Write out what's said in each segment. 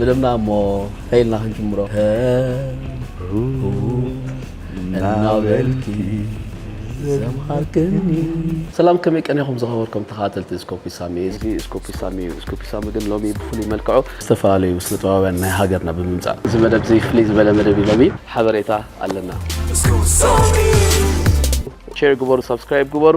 ምደምና እሞ ከይልና ክንጅምሮ እናበልኪ ዘምሃርክኒ ሰላም ከመይ ቀኒኹም ዝኸበርኩም ተኸታተልቲ ስኮፒ ሳሚ እዚ ስኮፒ ሳሚ እዩ ስኮፒ ሳሚ ግን ሎሚ ብፍሉይ መልክዑ ዝተፈላለዩ ስነ ጥበባውያን ናይ ሃገርና ብምምፃእ እዚ መደብ እዚ ፍልይ ዝበለ መደብ እዩ ሎሚ ሓበሬታ ኣለና ሼር ግበሩ ሳብስክራይብ ግበሩ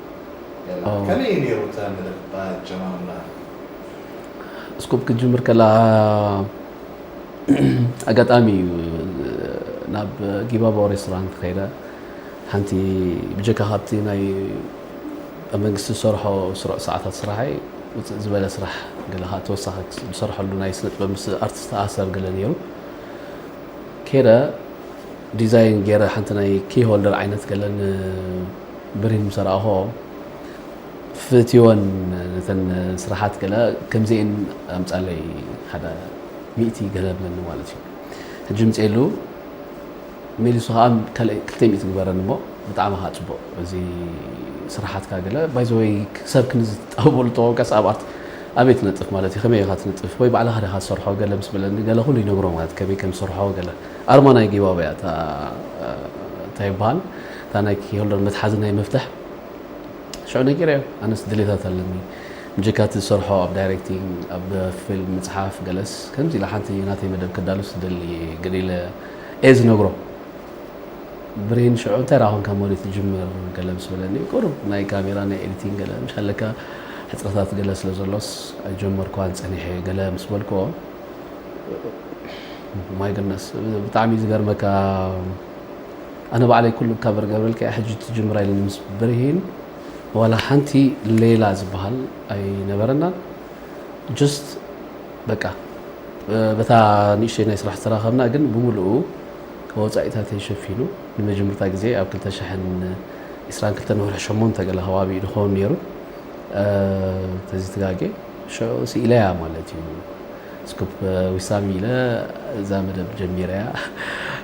ሌላ ከመይ እዩ ነይሩ እታ መደብ ኣጀማምራ? እስኮፕ ክትጅምር ከለኻ ኣጋጣሚ እዩ ናብ ጊባባው ሬስቶራንት ከይደ ሓንቲ ብጀካ ካብቲ ናይ ኣብ መንግስቲ ዝሰርሖ ስሩዕ ሰዓታት ስራሐይ ውፅእ ዝበለ ስራሕ ገለ ከዓ ተወሳኺ ዝሰርሐሉ ናይ ስነ ጥበብ ምስ ኣርቲስት ተኣሰር ገለ ነይሩ ከይደ ዲዛይን ገይረ ሓንቲ ናይ ኪ ሆልደር ዓይነት ገለን ብሪን ምስ ረኣኹኦ ፍትወን ነተን ስራሓት ገለ ከምዚኤን ኣምጻለይ ሓደ ሚእቲ ገለ ብለኒ ማለት እዩ ሕጂ ምጽኤሉ ሜሊሱ ከዓ ካልእ ክልተ ሚእቲ ግበረን እሞ ብጣዕሚ ከዓ ጽቡቅ እዚ ስራሓትካ ገለ ባይዘወይ ሰብ ክንዚ ትጣበሉ ተኮንካ ሰብኣት ኣበይ ትነጥፍ ማለት እዩ ከመይ ኢኻ ትነጥፍ ወይ ባዕልኻ ዲኻ ትሰርሖ ገለ ምስ በለኒ ገለ ኩሉ ይነግሮ ማለት ከመይ ከም ዝሰርሖ ገለ ኣርማ ናይ ጊባበያ እታ እንታይ ይበሃል እታ ናይ ኪሆልደር መትሓዚ ናይ መፍትሕ ሽዑ ነጊረዮ ኣነስ ድሌታት ኣለኒ ብጀካ እቲ ዝሰርሖ ኣብ ዳይሬክቲንግ ኣብ ፊልም ምጽሓፍ ገለስ ከምዚ ኢላ ሓንቲ ናተይ መደብ ከዳሉስ ዝደሊ እየ ግን ኢለ እየ ዝነግሮ ብሬን ሽዑ እንታይ ደኣ ኮንካ ሞሪ ትጅምር ገለ ምስ በለኒ ቁሩብ ናይ ካሜራ ናይ ኤዲቲንግ ገለ ምሽ ኣለካ ሕጽረታት ገለ ስለ ዘሎስ ኣይጀመርኳን ጸኒሐ ገለ ምስ በልክዎ ማይ ግነስ ብጣዕሚ ዝገርመካ ኣነ ባዕለይ ኩሉ እካ በርገብረልካ እያ ሕጂ ትጅምራ ኢሉኒ ምስ ብርሂን ዋላ ሓንቲ ሌላ ዝበሃል ኣይነበረናን ጅስት በቃ በታ ንእሽተይ ናይ ስራሕ ዝተራኸብና ግን ብምልኡ ወፃኢታተይ ሸፊኑ ንመጀመርታ ግዜ ኣብ 2022 ንወርሒ ሸሞንተ ገለ ከባቢ እዩ ዝኸውን ነይሩ ተዚ ትጋጌ ሽዑ ስኢለያ ማለት እዩ ስኩፕ ዊሳሚ ኢለ እዛ መደብ ጀሚረያ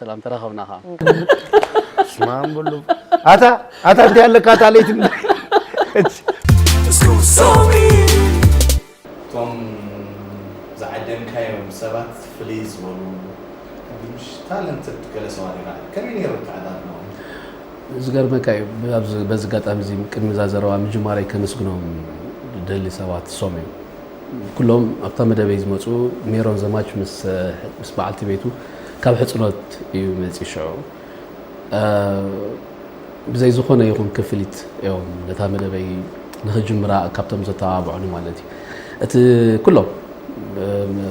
ሰላም ተራኸብና ከ ስማም ብሉ ኣታ ኣታ እንታይ ኣለካ ኣታ ለይቲ እቶም ዝዓደምካዮም ሰባት ፍልይ ዝበሉ ምሽ ታለንትድ ገለ ሰባት ይረኣ ከመይ ነይሩ ተዓዳድኖ ዝገርመካ እዩ በዚ ኣጋጣሚ እዚ ቅድሚ እዛ ዘረባ ምጅማረይ ከመስግኖም ደሊ ሰባት ሶም እዮም ኩሎም ኣብታ መደበይ ዝመጹ ሜሮን ዘማች ምስ በዓልቲ ቤቱ ካብ ሕጽኖት እዩ መጺ ሽዑ ብዘይ ዝኾነ ይኹን ክፍሊት እዮም ነታ መደበይ ንክጅምራ ካብቶም ዘተባብዑኒ ማለት እዩ እቲ ኩሎም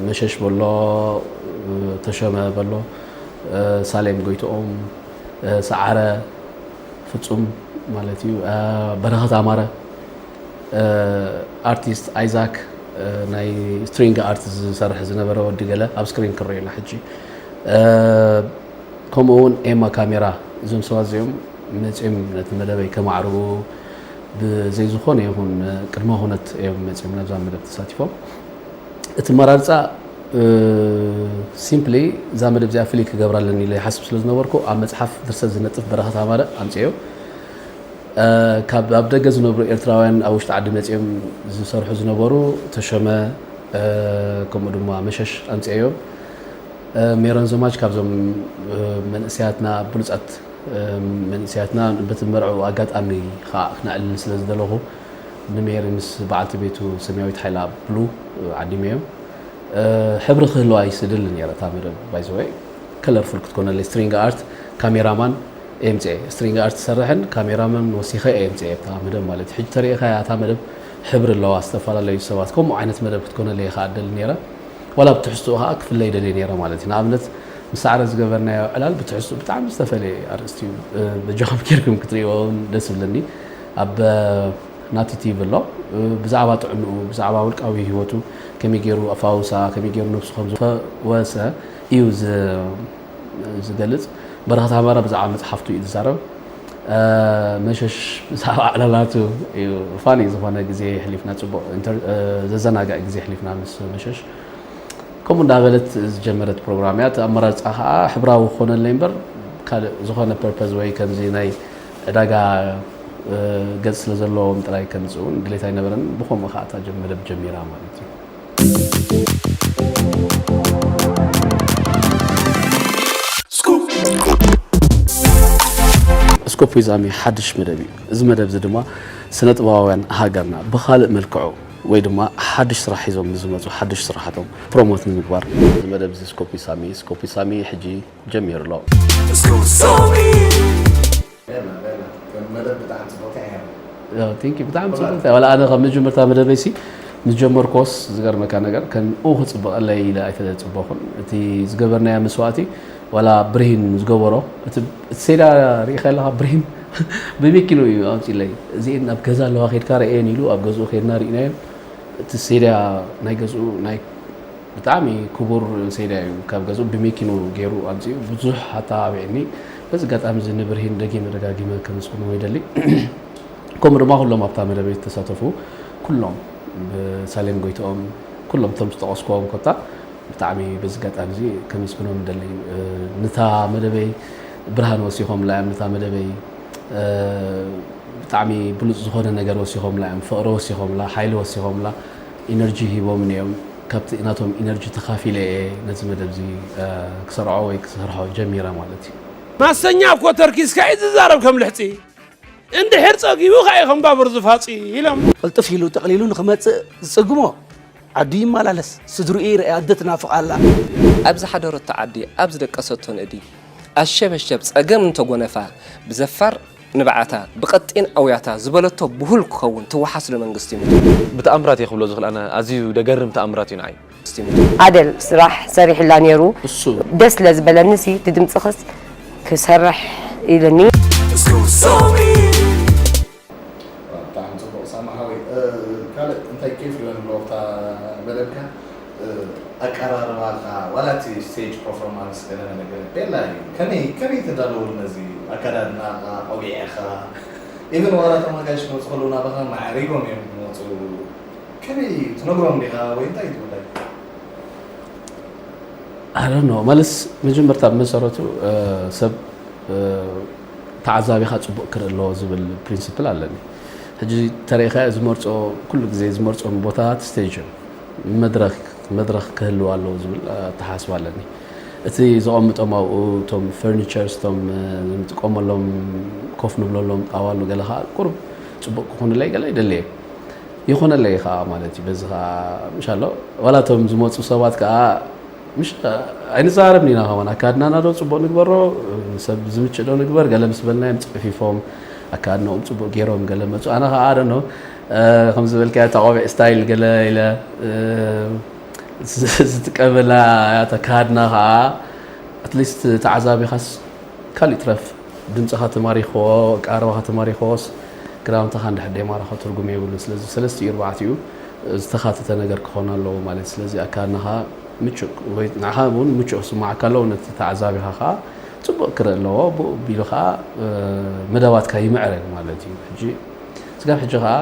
መሸሽ በሎ ተሸመ በሎ ሳሌም ጎይትኦም ሰዓረ ፍጹም ማለት እዩ በረኸት ኣማረ ኣርቲስት ኣይዛክ ናይ ስትሪንግ ኣርት ዝሰርሕ ዝነበረ ወዲ ገለ ኣብ ስክሪን ክንሪኦ ኢና ሕጂ ከምኡ እውን ኤማ ካሜራ እዞም ሰባት እዚኦም መፅኦም ነቲ መደበይ ከማዕርቡ ብዘይ ዝኾነ ይኹን ቅድመ ኩነት እዮም መፅኦም ናብዛ መደብ ተሳቲፎም እቲ መራርፃ ሲምፕሊ እዛ መደብ እዚኣ ፍልይ ክገብራ ኣለኒ ኢለ ይሓስብ ስለ ዝነበርኩ ኣብ መፅሓፍ ድርሰት ዝነጥፍ በረኸት ኣማረ ኣምፅኦ ካብ ኣብ ደገ ዝነብሩ ኤርትራውያን ኣብ ውሽጢ ዓዲ መጺኦም ዝሰርሑ ዝነበሩ ተሾመ ከምኡ ድማ መሸሽ ኣምጺኦዮ ሜሮን ዘማች ካብዞም መንእሰያትና ብሉጻት መንእሰያትና በቲ መርዕኡ ኣጋጣሚ ከዓ ክነዕልል ስለ ዝደለኹ ንሜሪ ምስ በዓልቲ ቤቱ ሰማያዊት ሓይላ ብሉ ዓዲመዮ ሕብሪ ክህልዋ ይስድል ነረ እታ መደብ ባይዘወይ ከለርፉል ክትኮነለይ ስትሪንግ ኣርት ካሜራማን ኤምጼ ስትሪንግ ኣርት ዝሰርሕን ካሜራ መን ወሲከ እየ ኤምጼ እታ መደብ ማለት እዩ ሕጂ ተሪኢካያ እታ መደብ ሕብሪ ኣለዋ ዝተፋላለዩ ሰባት ከምኡ ዓይነት መደብ ክትኮነለይ ከኣ እደሊ ነይረ ዋላ ብ ትሕዝትኡ ከኣ ክፍለ ይደልየ ነይረ ማለት እዩ ንኣብነት ምስ ሳዕረ ዝገበርናዮ ዕላል ብትሕዝትኡ ብጣዕሚ ዝተፈልየ ኣርእስቲ እዩ በጃኩም ጌርኩም ክትርእይዎ ውን ደስ ይብለኒ ኣብ ናቲ ቲቪ ኣሎ ብዛዕባ ጥዕንኡ ብዛዕባ ውልቃዊ ሂወቱ ከመይ ጌሩ ኣፋውሳ ከመይ ጌሩ ነብሱ ከም ዝፈወሰ እዩ ዝገልጽ በረኸት ኣማረ ብዛዕባ መጽሓፍቱ እዩ ዝዛረብ መሸሽ ብዛዕባ ዕለባቱ እዩ ፋኒ ዝኾነ ግዜ የሕሊፍና ጽቡቕ ዘዘናጋእ ግዜ የሕሊፍና ምስ መሸሽ ከምኡ እንዳበለት ዝጀመረት ፕሮግራም እያ እቲ ኣመራርፃ ከዓ ሕብራዊ ክኾነለይ እምበር ካልእ ዝኾነ ፐርፐዝ ወይ ከምዚ ናይ ዕዳጋ ገፅ ስለ ዘለዎም ጥራይ ከምፅእውን ድሌት ኣይነበረን ብከምኡ ከዓ እታ መደብ ጀሚራ ማለት እዩ ስኮፕ ዊዝ ኣሚ ሓድሽ መደብ እዩ እዚ መደብ እዚ ድማ ስነ ጥበባውያን ሃገርና ብካልእ መልክዑ ወይ ድማ ሓድሽ ስራሕ ሒዞም ንዝመፁ ሓድሽ ስራሓቶም ፕሮሞት ንምግባር እዚ መደብ እዚ ስኮፕ ዊዝ ሳሚ ስኮፕ ዊዝ ሳሚ ሕጂ ጀሚሩ ኣሎ Scoop Zombie. በላ በላ ከም መደብ ብጣዕሚ ጽብቕቲ እያ ያው ቲንኪ ብጣዕሚ ጽብቕቲ እያ ዋላ ኣነ ካብ መጀመርታ መደበይ ሲ ምስ ጀመርክዎስ ዝገርመካ ነገር ከምኡ ክጽብቐለይ ኢለ ኣይተጽበኹን እቲ ዝገበርናያ መስዋእቲ ዋላ ብርሂን ዝገበሮ እቲ ሴዳ ርኢኻ ኣለኻ ብርሂን ብመኪኑ እዩ ኣምፂለይ እዚኤን ኣብ ገዛ ኣለዋ ከድካ ርአየን ኢሉ ኣብ ገዝኡ ከድና ርኢናየን እቲ ሴዳ ናይ ገዝኡ ናይ ብጣዕሚ ክቡር ሴድያ እዩ ካብ ገዝኡ ብሜኪኑ ገይሩ ኣምጺኡ ብዙሕ ኣተባቢዕኒ በዚ ኣጋጣሚ እዚ ንብርሂን ደጊመ ደጋጊመ ከመስግኖ ይደሊ ከምኡ ድማ ኩሎም ኣብታ መደበይ ዝተሳተፉ ኩሎም ብሳሌም ጎይትኦም ኩሎም እቶም ዝጠቐስኩዎም ኮታ ብጣዕሚ በዚ ኣጋጣሚ እዚ ከመስግኖም ይደሊ ንታ መደበይ ብርሃን ወሲኾምላ እዮም ንታ መደበይ ብጣዕሚ ብሉፅ ዝኾነ ነገር ወሲኾምላ እዮም ፍቕሪ ወሲኾምላ ሓይሊ ወሲኾምላ ኢነርጂ ሂቦምኒ እዮም ካብቲ ናቶም ኢነርጂ ተኻፊለ እየ ነዚ መደብ እዚ ክሰርዖ ወይ ክሰርሖ ጀሚረ ማለት እዩ። ማሰኛ እኮ ተርኪስካ እዩ ዝዛረብ ከም ልሕፂ እንድሕር ፀጊቡ ካእ ከም ባቡር ዝፋፂ ኢሎም። ቕልጥፍ ኢሉ ጠቕሊሉ ንኽመፅእ ዝፅግሞ ዓዱ ይመላለስ ስድርኡ ይርኣይ ኣደ ትናፍቕ ኣላ። ኣብ ዝሓደረቶ ዓዲ ኣብ ዝደቀሰቶ ንእዲ ኣሸበሸብ ፀገም እንተጎነፋ ብዘፋር። ንብዓታ ብቀጢን ኣውያታ ዝበለቶ ብሁል ክኸውን ትወሓስ ዶ መንግስቲ ሙቶ። ብተኣምራት እየ ክብሎ ዝኽል ኣነ ኣዝዩ ደገርም ተኣምራት እዩ ንዓይ። ኣደል ስራሕ ሰሪሑላ ኔሩ ደስ ስለ ዝበለኒ ሲ እቲ ድምጺ ክስ ክሰርሕ ኢሉኒ። ዋው ብጣዕሚ ጽቡቅ ሳምሃዊ ካልእ እንታይ ኬፍ ይበል ኣለዎ ኣብታ መደብካ ኣቀራርባኻ ዋላ እቲ ስቴጅ ፐርፎርማንስ ገለ ነገረ ቤላ እዩ ከመይ ከመይ ተዳለወሉ ነዚ ኣከዳድናኻ ቆቢዕኻ ኢቭን ዋላ እቶም ኣጋይሽ ክመጹ ከለዉ ናባኻ ማዕሪጎም እዮም ክመጹ ከመይ እዩ ትነግሮም ዲኻ ወይ እንታይ እዩ ጉዳይ ኣረ ኖ መልስ መጀመርታ ብመሰረቱ ሰብ ተዓዛቢኻ ፅቡቅ ክርኢ ኣለዎ ዝብል ፕሪንስፕል ኣለኒ ሕጂ ተሪኢኻ ዝመርፆ ኩሉ ግዜ ዝመርፆም ቦታታት ስቴጅ እዮም መድረክ መድረክ ክህልው ኣለዎ ዝብል ኣተሓስባ ኣለኒ እቲ ዘቐምጦም ኣብኡ እቶም ፈርኒቸርስ እቶም ንጥቀመሎም ኮፍ ንብለሎም ጣዋሉ ገለ ከዓ ቁርብ ፅቡቅ ክኾንለይ ገለ ይደለየ ይኾነለይ ከዓ ማለት እዩ በዚ ከዓ ምሻሎ ዋላ እቶም ዝመፁ ሰባት ከዓ ምሽ ኣይንዛረብ ኒና ከማን ኣካድናና ዶ ፅቡቅ ንግበሮ ሰብ ዝምችእ ዶ ንግበር ገለ ምስ በልናዮም ፅዕፊፎም ኣካድናኦም ፅቡቅ ገይሮም ገለ መፁ ኣነ ከዓ ኣደኖ ከምዚ ዝበልካዮ እታ ቆቢዕ ስታይል ገለ ኢለ ዝጥቀመላ እያ እታ ኣከሃድና ከኣ ኣትሊስት ተዓዛቢኻስ ካልእ ይትረፍ ድምጽኻ ተማሪኽዎ ኣቀራርባኻ ተማሪኽዎስ ክዳውንትኻ እንድሕር ደይማረኾ ትርጉም የብሉን ስለዚ ብሰለስቲኡ ኣርባዕቲኡ ዝተኻተተ ነገር ክኾን ኣለዎ ማለት እዩ ስለዚ ኣከሃድናኻ ምቹእ ወይ ንዓኻ እውን ምቹእ ክስምዓካ ኣለዎ ነቲ ተዓዛቢኻ ከኣ ጽቡቕ ክርኢ ኣለዎ ብኡ ኣቢሉ ከኣ መደባትካ ይምዕረግ ማለት እዩ ሕጂ ስጋብ ሕጂ ከኣ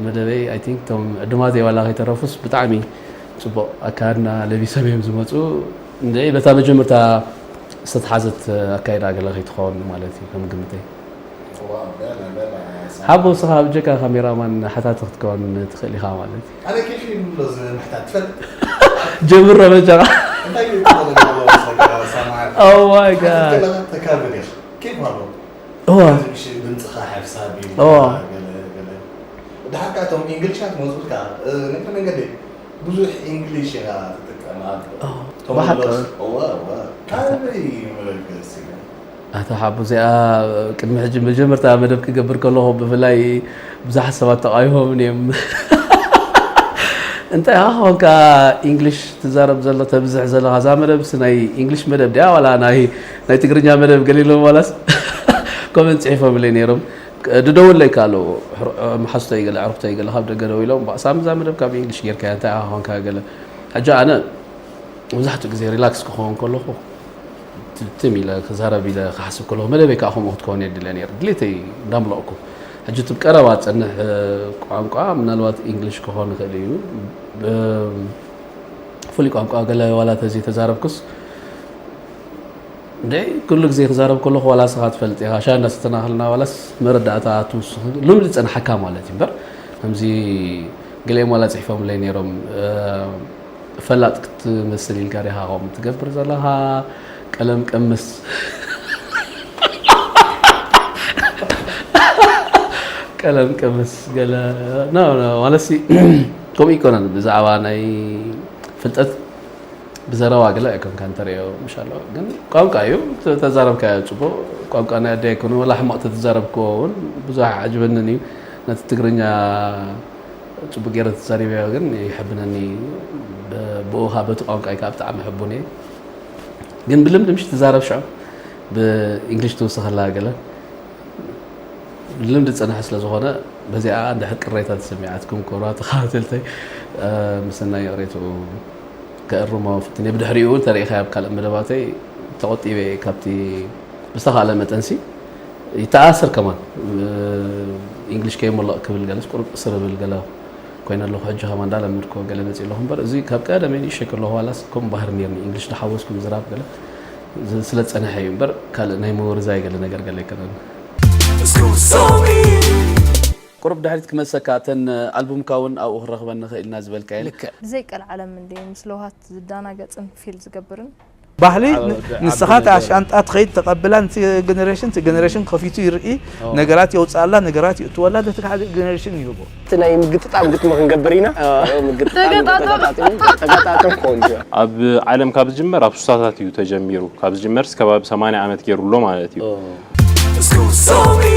መደበይ ኣይ ቲንክ እቶም ዕዱማተይ ዋላ ከይተረፉስ ብጣዕሚ ጽቡቕ ኣከዳድና ለቢሶም እዮም ዝመጹ። እንድዒ በታ መጀመርታ ዝተትሓዘት ኣካይዳ ገለ ከይትኸውን ማለት እዩ ከም ግምተይ። ሓቦ እስኻ ብጀካ ካሜራ ማን ሓታቲ ክትከውን ትኽእል ኢኻ ማለት እዩ። ኣነ ኬፍ እዩ ንብሎ ምሕታት ትፈልጥ ጀምሮ በጃኻ እንታይ እዩ ትብሎ ዘለዋ ምስ ነገራ ሰማዕት ኣዋይ ጋድ ከለኻ ተካብድ ኢኻ ኬፍ ኣለዎ እወ ድምፅኻ ሓሳብ እዩ እወ ድሓር ከዓ እቶም እንግሊሻ ክመፁልካ ነቲ መንገዲ ብዙሕ እንግሊሽ ኢኻ ትጥቀም ኣቶ ሓቡ እዚኣ ቅድሚ ሕጂ መጀመርታ መደብ ክገብር ከለኹ ብፍላይ ብዙሓት ሰባት ተቃዊሞምን እዮም እንታይ ኢኻ ኮንካ እንግሊሽ ትዛረብ ዘሎ ተብዝሕ ዘለኻ እዛ መደብ ናይ እንግሊሽ መደብ ድያ ዋላ ናይ ናይ ትግርኛ መደብ ገሊሎም ዋላስ ኮመንት ጽሒፎምለይ ነይሮም ድደውለይ ካሎ መሓዝቶይ ገለ ዕርክቶይ ገለ ካብ ደገ ደው ኢሎም ሳም እዛ መደብ ካብ ኢንግሊሽ ጌርካያ እንታይ ኢኻ ኮንካ ገለ ሕጂ ኣነ መብዛሕትኡ ግዜ ሪላክስ ክኸውን ከለኹ ትም ኢለ ክዛረብ ኢለ ክሓስብ ከለኹ መደበይ ከዓ ከምኡ ክትከውን እየ ድለ ነይር ድሌተይ እንዳምለቕኩ ሕጂ እቲ ቀረባ ዝፀንሕ ቋንቋ ምናልባት ኢንግሊሽ ክኾን ይኽእል እዩ ፍሉይ ቋንቋ ገለ ዋላ ተዘይተዛረብኩስ እንዴ ኩሉ ግዜ ክዛረብ ከለኹ ዋላ ንስኻ ትፈልጥ ኢኻ ሻይ እንዳሰተናኸልና ዋላስ መረዳእታ ትውስኽ ልምዲ ዝጸንሓካ ማለት እዩ እምበር ከምዚ ገሊኦም ዋላ ጽሒፎምለይ ነይሮም ፈላጥ ክትመስል ኢልካ ዲኻ ከምኡ ትገብር ዘለኻ ቀለም ቀምስ ቀለም ቀምስ ገለ ማለሲ ከምኡ ይኮነን ብዛዕባ ናይ ፍልጠት ብዘረባ ገለ ኣይኮንካን ተርእዮ ምሻሎ ግን ቋንቋ እዩ ተዛረብካዮ ጽቡቅ ቋንቋ ናይ ኣደ ኣይኮነ ወላ ሕማቅ ተትዛረብክዎ እውን ብዙሕ ኣዓጅበንን እዩ ነቲ ትግርኛ ጽቡቅ ገይረ ተዛሪበዮ ግን ይሕብነኒ ብኡኻ በቲ ቋንቋይ ከዓ ብጣዕሚ ሕቡን እየ ግን ብልምዲ ምሽ ትዛረብ ሽዑ ብእንግሊሽ ትውስኸላ ገለ ልምዲ ዝፀንሐ ስለ ዝኾነ በዚኣ እንድሕር ቅሬታ ተሰሚዓትኩም ክብራ ተኸታተልተይ ምስናይ ሬትኡ ክእርሞ ፍትኔ ብድሕሪኡ ውን ተሪኢኻዮ ኣብ ካልእ መደባተይ ተቆጢበ እየ ካብቲ ብዝተኻእለ መጠንሲ ይተኣስር ከማን ኢንግሊሽ ከይሞልቕ ክብል ገለስ ቁርብ እስር እብል ገለ ኮይነ ኣለኹ ሕጂ ከማ እንዳለመድኮ ገለ መፅእ ኣለኹ እምበር እዚ ካብ ቀደመይ ንእሸይ ከለኹ ዋላስ ከምኡ ባህር ነርኒ ኢንግሊሽ ዳሓወስኩ ምዝራብ ገለ ስለ ዝፀንሐ እዩ እምበር ካልእ ናይ ምውርዛይ ገለ ነገር ገለ ኣይከነን ቁሩብ ድሕሪት ክመልሰካ እተን ኣልቡምካ ውን ኣብኡ ክንረኽበን ንኽእል ኢና ዝበልካየን። ልክዕ። ብዘይ ቀልዓለም እንድዩ ምስ ለውሃት ዝዳናገጽን ፊል ዝገብርን። ባህሊ ንስኻ እታ ሻንጣ ትኸይድ ተቀብላ ንቲ ገነረሽን እቲ ገነረሽን ከፊቱ ይርኢ ነገራት የውጽኣላ ነገራት ይእትወላ ነቲ ካልእ ገነረሽን ይህቦ። እቲ ናይ ምግጥጣም ግጥሚ ክንገብር ኢና ምግጥጣም ተገጣጥም ተገጣጥም ቆንጆ። ኣብ ዓለም ካብ ዝጅመር ኣብ ሱሳታት እዩ ተጀሚሩ ካብ ዝጅመርስ ከባቢ ሰማንያ ዓመት ጌሩ ኣሎ ማለት እዩ። Scusomi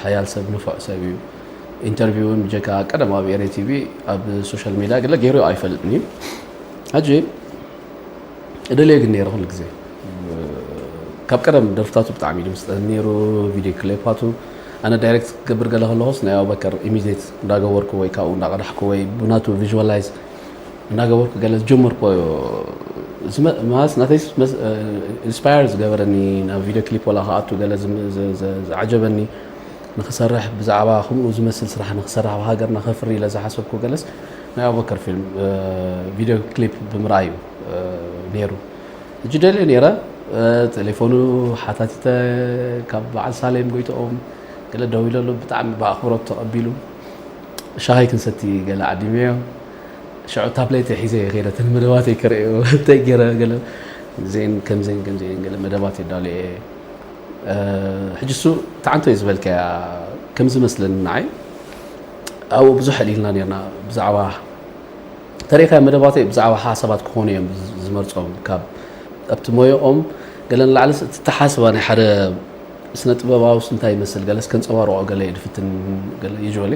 ሓያል ሰብ ንፉዕ ሰብ እዩ ኢንተርቪው እውን ብጀካ ቀደም ኣብ ኤሬ ቲቪ ኣብ ሶሻል ሚዲያ ገለ ገይሩ ኣይፈልጥን እዩ ሕጂ እደልዮ ግን ነይረ ኩሉ ግዜ ካብ ቀደም ደርፍታቱ ብጣዕሚ እዩ ድምስጠን ነይሩ ቪድዮ ክሌፓቱ ኣነ ዳይሬክት ክገብር ገለ ከለኹስ ናይ ኣቡበከር ኢሚዲት እንዳገበርኩ ወይ ካብኡ እንዳቐዳሕኩ ወይ ብናቱ ቪዥዋላይዝ እናገበርኩ ገለ ዝጀመርክዎ ማለት ናተይ ኢንስፓየር ዝገበረኒ ናብ ቪድዮ ክሊፕ ዋላ ክኣቱ ገለ ዝዓጀበኒ ንክሰርሕ ብዛዕባ ከምኡ ዝመስል ስራሕ ንክሰርሕ ኣብ ሃገርና ከፍሪ ኢለ ዝሓሰብኩ ገለስ ናይ ኣቡበከር ፊልም ቪድዮ ክሊፕ ብምርኣይ እዩ ነይሩ እጅ ደልየ ነይረ ቴሌፎኑ ሓታቲተ ካብ በዓል ሳሌም ጎይትኦም ገለ ደው ኢለሉ ብጣዕሚ ብኣኽብሮት ተቐቢሉ ሻሂ ክንሰቲ ገለ ዓዲመዮ ሸዑ ታብሌተይ ሒዘ እየ ከይደ እተን መደባተይ ክርእዮ እንታይ ገይረ ገለ እዚኤን ከምዚኤን ከምዚኤን ገለ መደባት የዳሉ እየ ሕጂ እሱ ተዓንቶ እዩ ዝበልካያ ከም ዝመስለኒ ንዓይ ኣብኡ ብዙሕ ኣልኢልና ነርና ብዛዕባ ተሪእካ መደባተይ ብዛዕባ ሓሳባት ክኾኑ እዮም ዝመርፆም ካብ ኣብቲ ሞየኦም ገለ ንላዕሊ እትተሓስባ ናይ ሓደ ስነ ጥበባዊ ስንታይ ይመስል ገለስ ከንፀባርቆ ገለ ድፍትን ገለ ዩዥዋሊ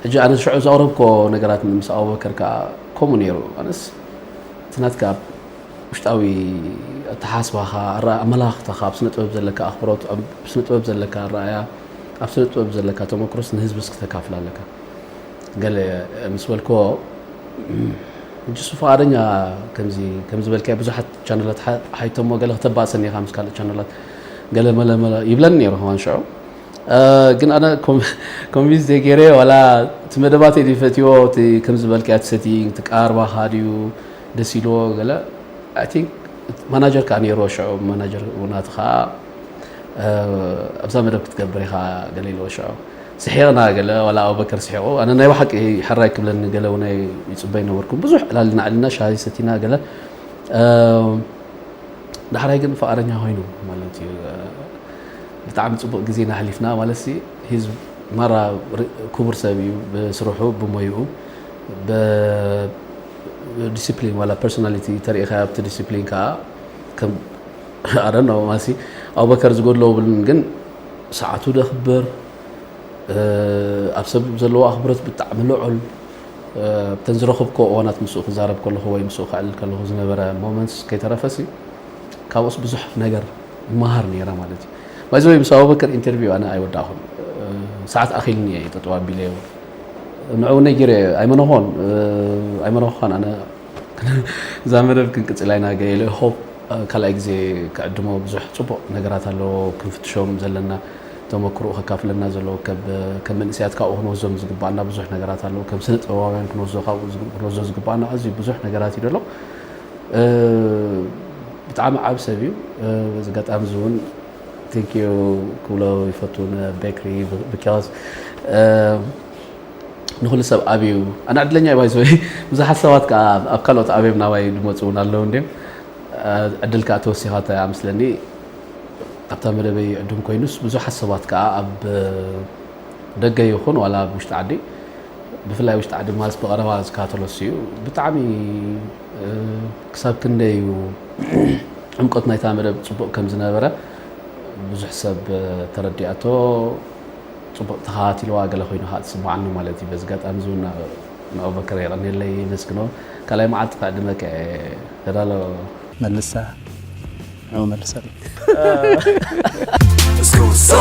ሕጂ ኣነ ሽዑ ዘቕረብክዎ ነገራት ምስ ኣቡበከር ከኣ ከምኡ ነይሩ። ኣነስ እቲ ናትካ ውሽጣዊ ኣተሓሳስባኻ፣ ኣረኣ ኣመለኻኽታኻ፣ ኣብ ስነ ጥበብ ዘለካ ኣኽብሮት፣ ኣብ ስነ ጥበብ ዘለካ ኣረኣእያ፣ ኣብ ስነ ጥበብ ዘለካ ተመክሮስ ንህዝብስ ክተካፍል ኣለካ ገለ ምስ በልክዎ ሕጂስ ፍቓደኛ ከምዚ ከም ዝበልካዮ ብዙሓት ቻነላት ሓ- ሓይቶሞ ገለ ክተባእሰኒ ኢኻ ምስ ካልእ ቻነላት ገለ መለ መለ ይብለኒ ነይሩ ከማን ሽዑ ግን ኣነ ኮንቪንስ ዘይገይረ ዋላ እቲ መደባተይ ድዩ ፈትዎ እቲ ከም ዝበልክያ እቲ ሰቲንግ እቲ ቀርባኻ ድዩ ደስ ኢልዎ ገለ ኣይ ቲንክ ማናጀር ከዓ ነይርዎ ሽዑ ማናጀር ውናት ከዓ ኣብዛ መደብ ክትገብር ኢኻ ገለ ኢልዎ ሽዑ ስሒቕና ገለ ዋላ ኣቡበከር ስሒቑ ኣነ ናይ ብሓቂ ሕራይ ክብለኒ ገለ እውን ይፅበይ ነበርኩም ብዙሕ ዕላልና ዕልና ሻሂ ሰቲና ገለ ዳሕራይ ግን ፍቓደኛ ኮይኑ ማለት እዩ ብጣዕሚ ጽቡቅ ግዜ ኢና ኣሕሊፍና ማለትሲ ሂዝ ማራ ኩቡር ሰብ እዩ ብስርሑ ብሞይኡ ብ ዲሲፕሊን ዋላ ፐርሶናሊቲ ተሪኢካዮ ኣብቲ ዲሲፕሊን ከኣ ከም ኣረኖ ማለትሲ ኣቡበከር ዝጎድሎ ብልን ግን ሰዓቱ ደክብር ኣብ ሰብ ዘለዎ ኣክብሮት ብጣዕሚ ልዑል እተን ዝረኽብኮ እዋናት ምስኡ ክዛረብ ከለኹ ወይ ምስኡ ከዕልል ከለኹ ዝነበረ ሞመንትስ ከይተረፈሲ ካብኡስ ብዙሕ ነገር ይመሃር ነይረ ማለት እዩ ባይ ዘወይ ምስ ኣቡበከር ኢንተርቪው ኣነ ኣይወዳእኹን ሰዓት ኣኺልኒ እየ ጠጠው ኣቢለዮ ንዕኡ ነጊረ ኣይመነኾን ኣይመነኾን ኣነ እዛ መደብ ክንቅፅል ኣይና ገለ ሆፕ ካልኣይ ግዜ ክዕድሞ ብዙሕ ፅቡቅ ነገራት ኣለዎ ክንፍትሾም ዘለና ተመክሮ ከካፍለና ዘለዎ ከም መንእሰያት ካብኡ ክንወዞም ዝግባኣና ብዙሕ ነገራት ኣለዎ ከም ስነ ጥበባውያን ክንወዞ ካብኡ ክንወዞ ዝግባኣና ኣዝዩ ብዙሕ ነገራት እዩ ደሎ ብጣዕሚ ዓብ ሰብ እዩ በዚ ኣጋጣሚ እዚ እውን ቴንክ ዩ ክብሎ ይፈቱ ንቤክሪ ብካዝ ንኩሉ ሰብ ዓብ እዩ ኣነ ዕድለኛ እዩ ባይዘወይ ብዙሓት ሰባት ከዓ ኣብ ካልኦት ዓብዮም ናባይ ድመፁ እውን ኣለዉ እንድዮም ዕድል ከዓ ተወሲኻ እያ ምስለኒ ኣብታ መደበይ ዕዱም ኮይኑስ ብዙሓት ሰባት ከዓ ኣብ ደገ ይኹን ዋላ ኣብ ውሽጢ ዓዲ ብፍላይ ውሽጢ ዓዲ ማልስ ብቐረባ ዝካተሎስ እዩ ብጣዕሚ ክሳብ ክንደይ እዩ ዕምቆት ናይታ መደብ ፅቡቕ ከም ዝነበረ ብዙሕ ሰብ ተረዲኣቶ ፅቡቕ ተኸታቲልዋ ገለ ኮይኑ ከዓ ትስምዓኒ ማለት እዩ በዚ ኣጋጣሚ እዚ እውን ንኦበከር የቐኔለይ የመስግኖ ካልኣይ መዓልቲ ክዕድመ ከ ተዳሎ መልሳ ንዑ መልሰሉ It's going so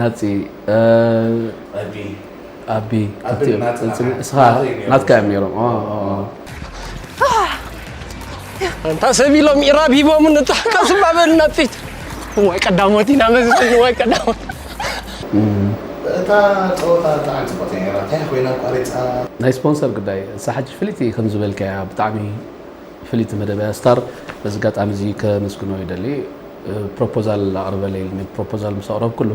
ናፂ ኣቢ እስኻ ናትካ እዮም ነይሮም እንታ ሰብ ኢሎም ኢራብ ሂቦምን እንታ ቀስማ በል ናፂት እዋይ ቀዳሞት ኢና መዝን እዋይ ቀዳሞት እታ ፀወታ ብጣዕሚ ፅቡቅ እያ ነይራ እንታይ ኮይና ኣቋሪፃ ናይ ስፖንሰር ጉዳይ እሳ ሕጂ ፍልይቲ ከም ዝበልካያ ብጣዕሚ ፍልይቲ መደበያ ስታር በዚ ኣጋጣሚ እዚ ከመስግኖ ይደሊ ፕሮፖዛል ኣቕርበለይ ኢሉኒ። ፕሮፖዛል ምስ ኣቕረብኩሉ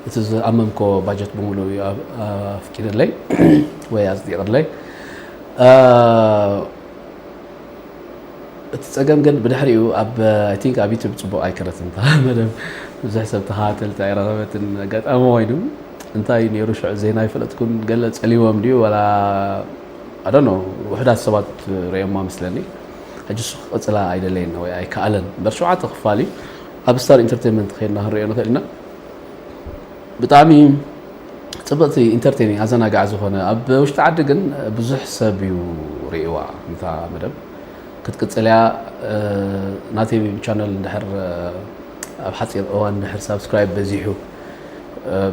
እቲ ዝኣመምኮ ባጀት ብምሉእ እዩ ኣፍቂድለይ ወይ ኣጽዲቕለይ። እቲ ጸገም ግን ብድሕሪኡ ኣብ ኣይ ቲንክ ኣብ ዩቱብ ጽቡቕ ኣይከረትን እታ መደብ ብዙሕ ሰብ ተኸታተልቲ ኣይረኸበትን ኣጋጣሚ ኮይኑ እንታይ እዩ ነይሩ ሽዑ ዜና ኣይፈለጥኩን ገለ ጸሊዎም ድዩ ወላ ኣዶኖ ውሑዳት ሰባት ረኦማ ምስለኒ ሕጂ እሱ ክቅጽላ ኣይደለየን ወይ ኣይከኣለን እምበር ሸውዓተ ክፋል እዩ ኣብ ስታር ኢንተርቴንመንት ከይድና ክንሪኦ ንኽእል ኢና ብጣዕሚ ጽብቕቲ ኢንተርቴኒ ኣዘናጋዕ ዝኾነ ኣብ ውሽጢ ዓዲ ግን ብዙሕ ሰብ እዩ ርእዋ ነታ መደብ ክትቅጽል እያ ናተይ ቻነል እንድሕር ኣብ ሓፂር እዋን እንድሕር ሳብስክራይብ በዚሑ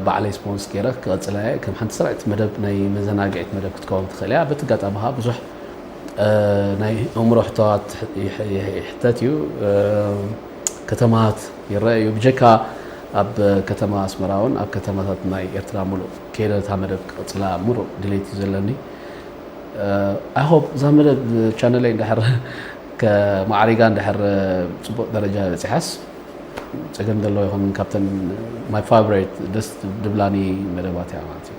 ባዕለይ ስፖንስ ገይረ ክቐጽላ እየ ከም ሓንቲ ስራዕቲ መደብ ናይ መዘናግዒት መደብ ክትከውን ትኽእል እያ በቲ ኣጋጣሚ ከዓ ብዙሕ ናይ ኣእምሮ ሕቶታት ይሕተት እዩ፣ ከተማታት ይረአ እዩ፣ ብጀካ ኣብ ከተማ ኣስመራ እውን ኣብ ከተማታት ናይ ኤርትራ ምሉእ ከይደ እታ መደብ ክቕጽላ ምሩእ ድሌት እዩ ዘለኒ። ኣይ ሆፕ እዛ መደብ ቻነለይ እንድሕር ከማዕሪጋ እንድሕር ጽቡቕ ደረጃ በጺሓስ ጸገም ዘለዎ ይኸውን ካብተን ማይ ፋቨሬት ደስ ድብላኒ መደባት እያ ማለት እዩ።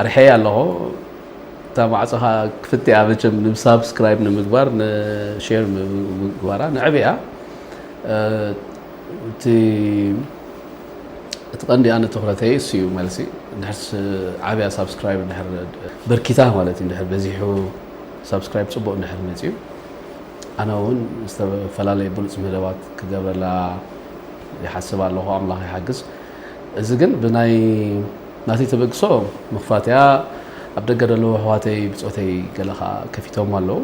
ኣርሕየያ ኣለኹ እታ ማዕጾ ከኣ ክፍትያ መቸም ንሳብስክራይብ ንምግባር ንሼር ምግባራ ንዕብያ እቲ እቲ ቀንዲ ኣነ ትኹረተይ እሱ እዩ መልሲ ድሕርስ ዓብያ ሳብስክራይብ ድሕር በርኪታ ማለት እዩ ድሕር በዚሑ ሳብስክራይብ ፅቡቅ ድሕር መፅዩ ኣነ እውን ዝተፈላለየ ብሉፅ መደባት ክገብረላ ይሓስብ ኣለኹ ኣምላኽ ይሓግዝ እዚ ግን ብናይ ናተይ ተበግሶ መኽፋትያ ኣብ ደገ ደለዉ ኣሕዋተይ ብጾተይ ገለ ከኣ ከፊቶሞ ኣለዉ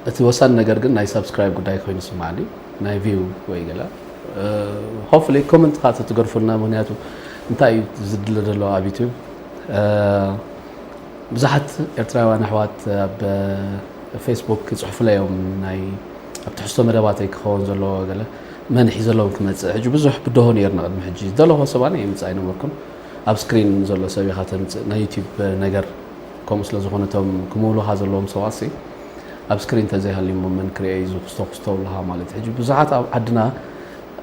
እቲ ወሳኒ ነገር ግን ናይ ሳብስክራይብ ጉዳይ ኮይኑ ስማዓኒ ናይ ቪው ወይ ገለ ሆፕፉሊ ኮመንት ከኣ ተትገርፉልና ምክንያቱ እንታይ እዩ ዝድለ ዘሎ ኣብ ዩቱብ ብዙሓት ኤርትራውያን ኣሕዋት ኣብ ፌስቡክ ይፅሑፉለይ እዮም ናይ ኣብ ትሕዝቶ መደባተይ ክኸውን ዘለዎ ገለ መን ሒዘሎም ክመጽእ ሕጂ ብዙሕ ብድሆ ነይርና ቅድሚ ሕጂ ዝደለኹዎ ሰብ ኣነ የምጽእ ኣይነበርኩን ኣብ ስክሪን ዘሎ ሰብ ኢኻ ተምጽእ ናይ ዩቲብ ነገር ከምኡ ስለ ዝኾነ እቶም ክምውሉኻ ዘለዎም ሰባትሲ ኣብ ስክሪን ተዘይሃልዩሞ መን ክርኤ እዩ ዝኹስቶ ኩስቶ ብልኻ ማለት ሕጂ ብዙሓት ኣብ ዓድና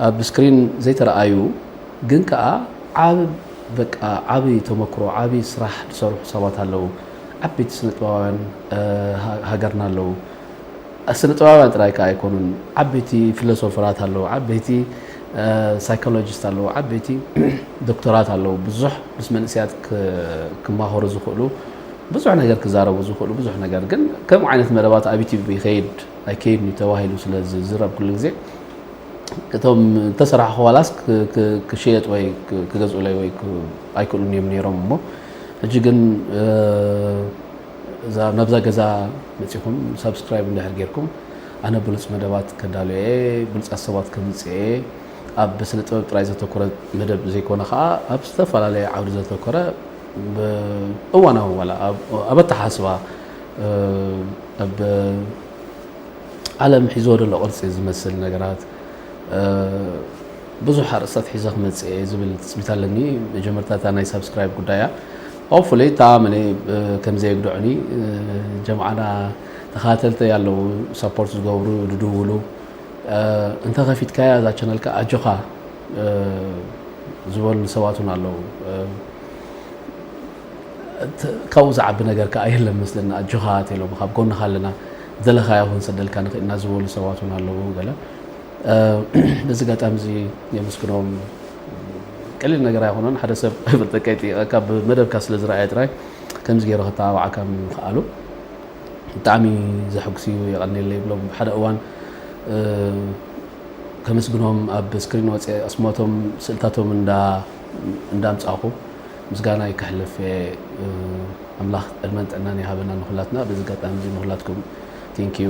ኣብ ስክሪን ዘይተረኣዩ ግን ከኣ ዓብ በቃ ዓብይ ተመክሮ ዓብይ ስራሕ ዝሰርሑ ሰባት ኣለዉ ዓበይቲ ስነጥበባውያን ሃገርና ኣለዉ ስነጥበባውያን ጥራይ ከኣ ኣይኮኑን ዓበይቲ ፍለሶፈራት ኣለዉ ዓበይቲ ሳይኮሎጂስት ኣለዉ ዓበይቲ ዶክተራት ኣለዉ ብዙሕ ምስ መንእስያት ክማኸሩ ዝኽእሉ ብዙሕ ነገር ክዛረቡ ዝኽእሉ ብዙሕ ነገር ግን ከምኡ ዓይነት መደባት ኣብ ዩቲብ ይኸይድ ኣይከይድን እዩ ተባሂሉ ስለ ዝዝረብ ኩሉ ግዜ እቶም ተሰራሕ ኋላስ ክሸየጥ ወይ ክገዝኡለይ ወይ ኣይክእሉን እዮም ነይሮም እሞ ሕጂ ግን እዛ ናብዛ ገዛ መጺኹም ሳብስክራይብ እንድሕር ጌርኩም ኣነ ብሉጽ መደባት ከዳሉ እየ፣ ብሉጻት ሰባት ከምጽእ እየ፣ ኣብ ስነ ጥበብ ጥራይ ዘተኮረ መደብ ዘይኮነ ከኣ ኣብ ዝተፈላለየ ዓውዲ ዘተኮረ ብ እዋናዊ ዋላ ኣብ ኣተሓስባ ኣብ ዓለም ሒዝዎ ዘሎ ቅርጺ ዝመስል ነገራት ብዙሕ ኣርእስታት ሒዘ ክመጽእ እየ ዝብል ትጽቢት ኣለኒ፣ መጀመርታ እታ ናይ ሳብስክራይብ ጉዳይ እያ፣ Hopefully ተኣምኒ ከምዘየግድዑኒ ጀምዓና ተኸታተልተይ ኣለዉ ሰፖርት ዝገብሩ ዝድውሉ እንተኸፊትካያ እዛ ቻነልካ ኣጆኻ ዝበሉ ሰባት እውን ኣለዉ ካብኡ ዝዓቢ ነገር ከዓ የለን መስለኒ ኣጆኻ ተሎም ካብ ጎንኻ ኣለና ዘለኻዮ ክንሰደልካ ንኽእልና ዝበሉ ሰባት እውን ኣለዉ ገለ በዚ ኣጋጣሚ እዚ የመስግኖም ቀሊል ነገር ኣይኮነን ሓደ ሰብ ብርጠቀይ ጥይቐካ ብመደብካ ስለ ዝረኣየ ጥራይ ከምዚ ገይሩ ከተባብዓካ ምኽኣሉ ብጣዕሚ ዘሐጉስ እዩ የቐኒለ ይብሎም ሓደ እዋን ከመስግኖም ኣብ ስክሪን ወፀ ኣስማቶም ስእልታቶም እንዳምፃኹ ምስጋና ይከሕልፍ ኣምላኽ ዕድመን ጥዕናን ይሃበና ንኩላትና በዚ ኣጋጣሚ እዚ ንኩላትኩም ቴንኪዩ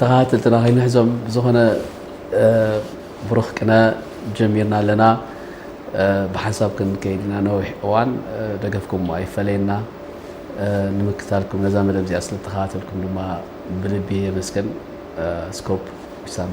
ተኸታተልትና ከይንሕዞም ብዝኾነ ብሩኽ ቅነ ጀሚርና ኣለና ብሓንሳብ ክንከይድ ኢና ነዊሕ እዋን ደገፍኩም ኣይፈለየና ንምክታልኩም ነዛ መደብ እዚኣ ስለተኸታተልኩም ድማ ብልቢ የመስገን ስኮፕ ዊሳም